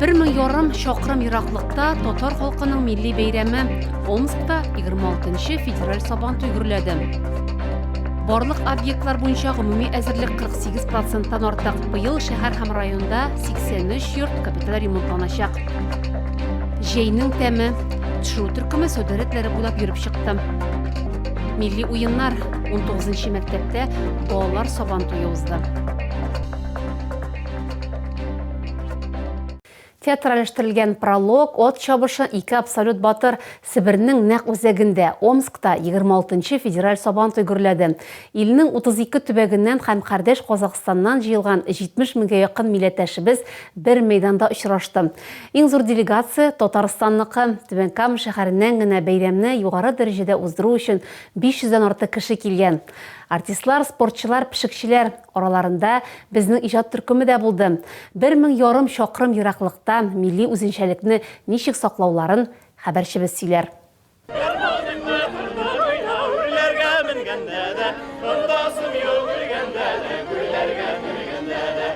Бер мең ярым чакрым ераклыкта татар халкының милли бәйрәме Омскта 26-нчы федераль сабан туй гөрләде. Барлык объектлар буенча гомуми әзерлек 48 проценттан артык. Быел шәһәр һәм районда 83 йорт капиталь ремонтланачак. Җәйнең тәме, төшерү төркеме сәүдә рәтләре буйлап йөреп чыкты. Милли уеннар 19 нчы мәктәптә балалар сабан туе узды. Театралештерелгән пролог, от чабышы ике абсолют батыр Себернең нәк үзәгендә, Омскта 26 федераль сабан туй гөрләде. Илнең 32 төбәгеннән һәм кардәш Казахстаннан җыелган 70 меңгә якын милләттәшебез бер мәйданда очрашты. Иң зур делегация, Татарстанныкы. Түбән Кама шәһәреннән генә бәйрәмне югары дәрәҗәдә уздыру өчен 500 дән артык кеше килгән. Артистлар, спортчылар, пешекчеләр. Араларында безнең иҗат төркеме дә булды. Бер мең ярым чакрым ераклыкта милли үзенчәлекне ничек саклауларын хәбәрчебез сөйләр. Ыргылдыммы, ыргылдым уйна, Үрләргә менгәндә дә, Онтасым юк үлгәндә дә, Күлләргә менгәндә дә.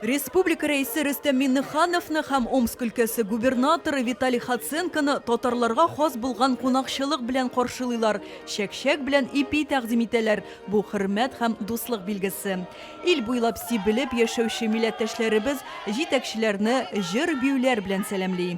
Республика Рәисе Рөстәм Миңнехановны һәм Омск өлкәсе губернаторы Виталий Хоценконы татарларга хас булган кунакчылык белән каршылыйлар, чәкчәк белән ипи тәкъдим итәләр, бу хөрмәт һәм дуслык билгесе. Ил буйлап сибелеп яшәүче милләттәшләребез җитәкчеләрне җыр-биюләр белән сәламли.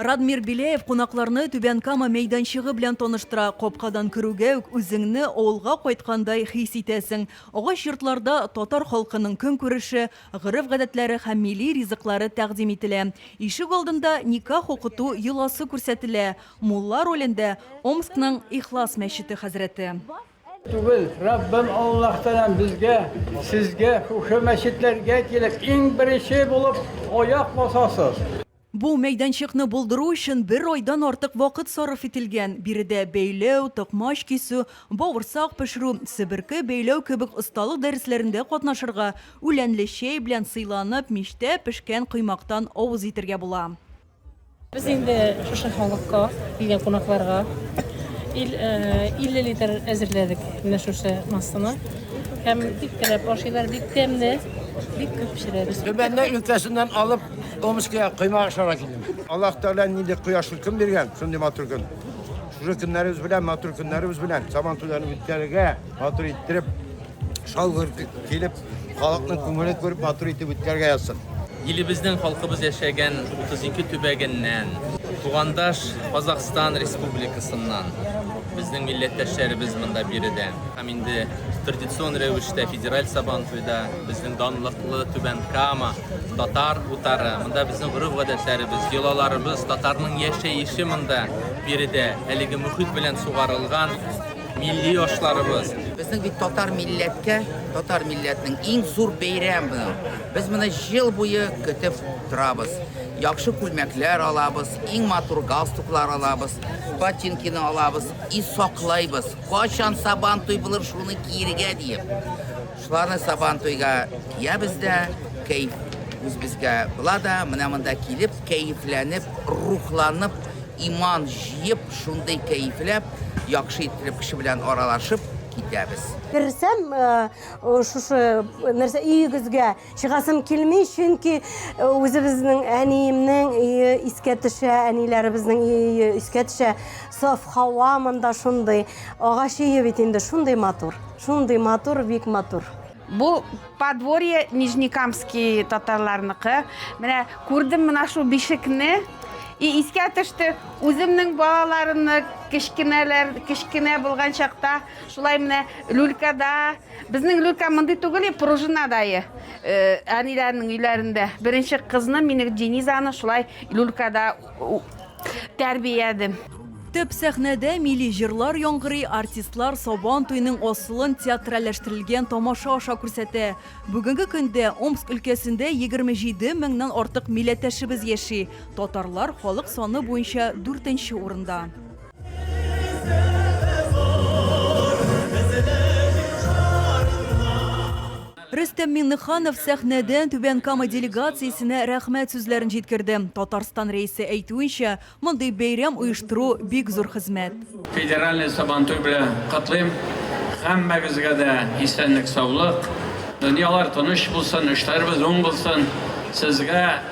Радмир Беляев кунакларны Түбән Кама мәйданчыгы белән таныштыра. Капкадан керүгә үк үзеңне авылга кайткандай хис итәсең. Агач йортларда татар халкының көнкүреше, гореф-гадәтләре һәм милли ризыклары тәкъдим ителә. Ишек алдында никах укыту йоласы күрсәтелә. Мулла ролендә, Омскның Ихлас мәчете хәзрәте. Түгел, Раббым Аллаһтанам безгә, сезгә шушы мәчетләргә килеп, иң беренче булып аяк басасыз. Бу мәйданчыкны булдыру өчен бер айдан артык вакыт сарыф ителгән. Биредә бәйләү, токмач кисү, бавырсак пешерү, себерке бәйләү кебек осталык дәресләрендә катнашырга, үләнле чәй белән сыйланып, мичтә пешкән коймактан авыз итәргә була. Без инде шушы халыкка, килгән кунакларга 50 литр әзерләдек менә шушы массаны. Һәм бик теләп ашыйлар, бик тәмле, бик күп пешерәбез. Төбәннәр өлкәсеннән алып Томскига коймак ашарга килдем. Аллаһ Тәгалә нинди кояшлы көн биргән, шундый матур көн. Шушы көннәребез белән, матур көннәребез белән Сабан туйларын үткәрергә, матур иттереп, шалгыр килеп, халыкның күңелен күреп, матур итеп үткәрергә язсын. Илебезнең халкыбыз яшәгән 32 төбәгеннән, тугандаш Казахстан Республикасыннан безнең милләттәшләребез монда биредә. Һәм инде традицион рәвештә федераль сабан туйда безнең данлыклы Түбән Кама, татар утары, монда безнең гореф-гадәтләребез, йолаларыбыз, татарның яшәеше монда биредә әлеге мөхит белән сугарылган милли ашларыбыз. Безнең бит татар милләткә, татар милләтнең иң зур бәйрәме. Без моны ел буе көтеп торабыз. Яхшы күлмәкләр алабыз, иң матур галстуклар алабыз, ботинкины алабыз и саклайбыз. Качан сабан туй булыр, шуны киергә диеп. Шуларны сабан туйга киябез дә, кәйф үзебезгә була да, менә монда килеп, кәйфләнеп, рухланып, иман җыеп, шундый кәйфләп, яхшы итеп кеше белән аралашып китәбез. Керсәм, э, шушы нәрсә өегезгә Чыгасым килми, чөнки үзебезнең әниемнең өе искә төшә, әниләребезнең өе искә төшә. Саф һава монда шундый. Агач өе бит инде шундый матур. Шундый матур, бик матур. Бу подворье Нижнекамский татарларныкы. Менә күрдем менә шул бишекне. И искә төште, үземнең балаларымны кечкенәләр, кечкенә булган чакта шулай менә люлькада Безнең люлька мондый түгел, пружинадае. Әниләрнең өйләрендә беренче кызны мине Денизаны шулай люлькада тәрбиядем. Төп сәхнәдә милли җырлар яңгырый, артистлар Сабан туеның асылын театральләштерелгән тамаша аша күрсәтә. Бүгенге көндә Омск өлкәсендә 27 меңнән артык милләттәшебез яши, татарлар халык саны буенча дүртенче урында. Рөстәм Миңнеханов сәхнәдән Түбән Кама делегациясенә рәхмәт сүзләрен җиткерде. Татарстан Рәисе әйтүенчә, мондый бәйрәм оештыру, бик зур хезмәт. Федеральный Сабантуй белән котлыйм. Һәммәгезгә дә исәнлек-саулык, дөньялар тыныч булсын, эшләребез уң булсын. Сезгә.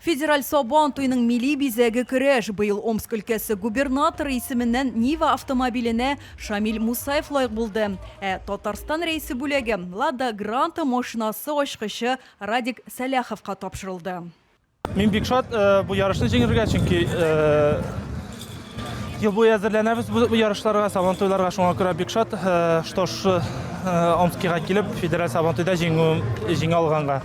Федераль Сабан туеның милли бизәге көрәш. Быел Омск өлкәсе губернаторы исеменнән Нива автомобиленә Шамил Мусаев лаек булды. Ә Татарстан Рәисе бүләге Лада Гранта машинасы ачкычы Радик Сәлаховка тапшырылды. Мин бик шат бу ярышны җиңергә, чөнки. Ел буе әзерләнәбез бу ярышларга, сабантуйларга. Шуңа күрә бик шат, э, что ш- э, Омскига килеп, федераль сабантуйда җиңү җиңә алганга.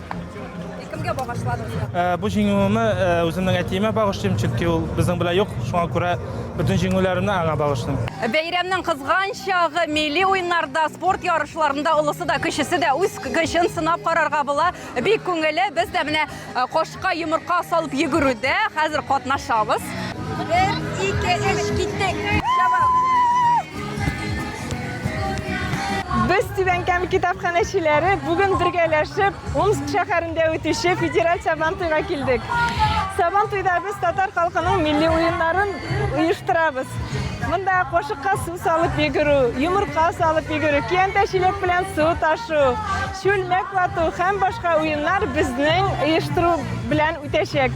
Кемгә багышладыгыз? Э, Бу җиңүемне э, үземнең әтиемә багышлыйм, чөнки ул безнең белән юк. Шуңа күрә бөтен җиңүләремне аңа багышлыйм. Бәйрәмнең кызган чагы милли уеннарда, спорт ярышларында олысы да, кечесе дә үз көчен сынап карарга була. Бик күңелле, без дә менә кошка йомырка салып йөгерүдә хәзер катнашабыз. 1 2 3 киттек. Без Түбәнкәм китапханәчеләре бүген бергәләшеп Омск шәһәрендә үтүче федераль Сабантуйга килдек. Сабантуйда без татар халкының милли уеннарын оештырабыз. Монда кошыкка су салып йөгерү, йомырка салып йөгерү, киянтә чиләк белән су ташу, Чүлмәк вату һәм башка уеннар безнең оештыру белән үтәчәк.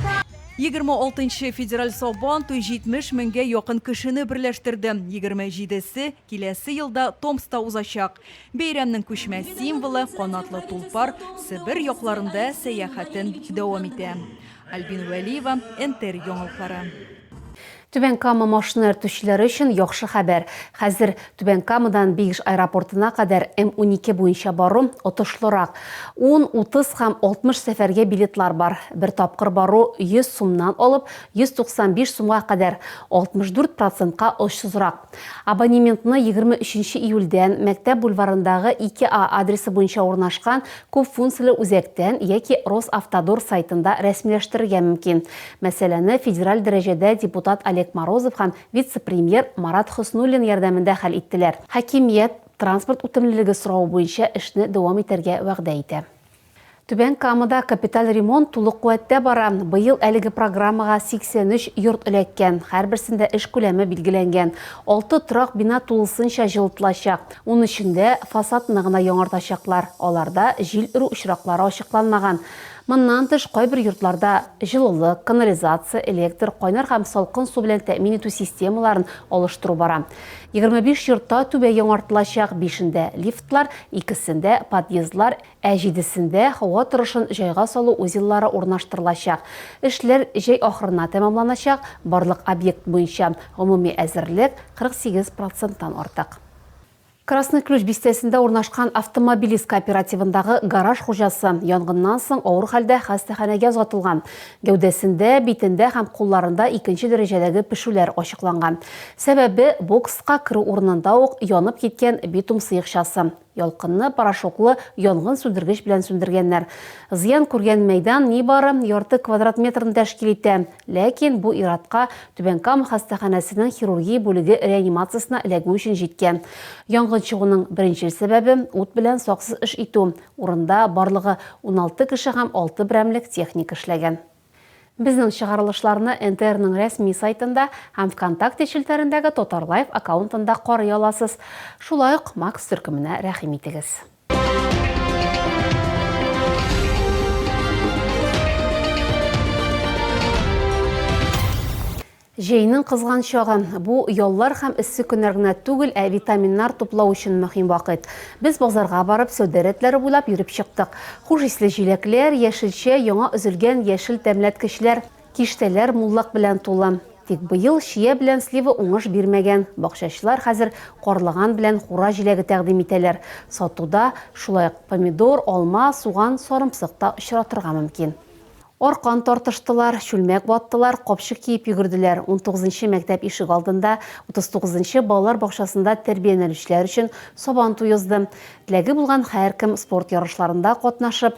Егерме алтынчы федераль Сабан туй 70 меңгә якын кешене берләштерде. Егерме җидесе, киләсе елда Томскта узачак. Бәйрәмнең күчмә символы, канатлы тулпар, Себер якларында сәяхәтен дәвам итә. Альбина Вәлиева, НТР яңалыклары. Түбән Кама машина йөртүчеләре өчен яхшы хәбәр, хәзер Түбән Камадан Бигш аэропортына кадәр М-12 буенча бару отышлырак. Ун, утыз һәм алтмыш сәфәргә билетлар бар. Бер тапкыр бару 100 сумнан алып 195 сумга кадәр, 64 процентка очсызрак. Абонементны егерме өченче июльдән Мәктәп бульварындагы 2А адресы буенча урнашкан күпфункцияле үзәктән яки Росавтодор сайтында рәсмиләштерергә мөмкин. Мәсьәләне федераль дәрәҗәдә депутат Олег Морозов һәм вице-премьер Марат Хөснуллин ярдәмендә хәл иттеләр. Хакимият транспорт үтемлелеге соравы буенча эшне дәвам итәргә вәгъдә итә. Түбән Камада капиталь ремонт тулы куәттә бара. Быел әлеге программага 83 йорт эләккән, һәрберсендә эш күләме билгеләнгән. Алты торак бина тулысынча җылытылачак. Унөчендә фасадны гына яңартачаклар, аларда җил өрү очраклары ачыкланмаган. Моннан тыш, кайбер йортларда җылылык, канализация, электр, кайнар һәм салкын су белән тәэмин итү системаларын алыштыру бара. 25 йортта түбә яңартылачак, бишендә, лифтлар, икесендә, подъездлар, ә җидесендә, һава торышын җайга салу узеллары урнаштырылачак. Эшләр җәй ахырына тәмамланачак, барлык объект буенча гомуми әзерлек 48 проценттан артык. Красный Ключ бистәсендә урнашкан автомобилист кооперативындагы гараж хуҗасы янгыннан соң авыр хәлдә хастаханәгә озатылган. Гәүдәсендә, битендә һәм кулларында икенче дәрәҗәдәге пешүләр ачыкланган. Сәбәбе, бокска керү урынында ук янып киткән битум сыекчасы. Ялкынны порошоклы янгын сүндергеч белән сүндергәннәр. Зыян күргән мәйдан нибары ярты квадрат метрны тәшкил итә. Ләкин бу ир-атка Түбән Кама хастаханәсенең хирургия бүлеге реанимациясенә эләгү өчен җиткән. Янгын чыгуның беренчел сәбәбе, ут белән саксыз эш итү. Урында барлыгы уналты кеше һәм алты берәмлек техника эшләгән. Безнең чыгарылышларны НТРның рәсми сайтында һәм ВКонтакте челтәрендәге Татарлайв аккаунтында карый аласыз. Шулай ук Макс төркеменә рәхим итегез. Җәйнең кызган чагы. Бу яллар һәм эссе көннәр генә түгел, ә витаминнар туплау өчен мөһим вакыт. Без базарга барып, сәүдә рәтләре буйлап йөреп чыктык. Хуш исле җиләкләр, яшелчә, яңа өзелгән яшел тәмләткечләр. Киштәләр муллык белән тулы. Тик быел чия белән слива уңыш бирмәгән. Бакчачылар хәзер карлыган белән кура җиләге тәкъдим итәләр. Сатуда, шулай ук, помидор, алма, суган, сарымсык та очратырга мөмкин. Аркан тартыштылар, чүлмәк ваттылар, капчык киеп йөгерделәр. Унтугызынчы мәктәп ишегалдында, утызтугызынчы балалар бакчасында тәрбияләнүчеләр өчен Сабан туе узды. Теләге булган һәркем спорт ярышларында катнашып,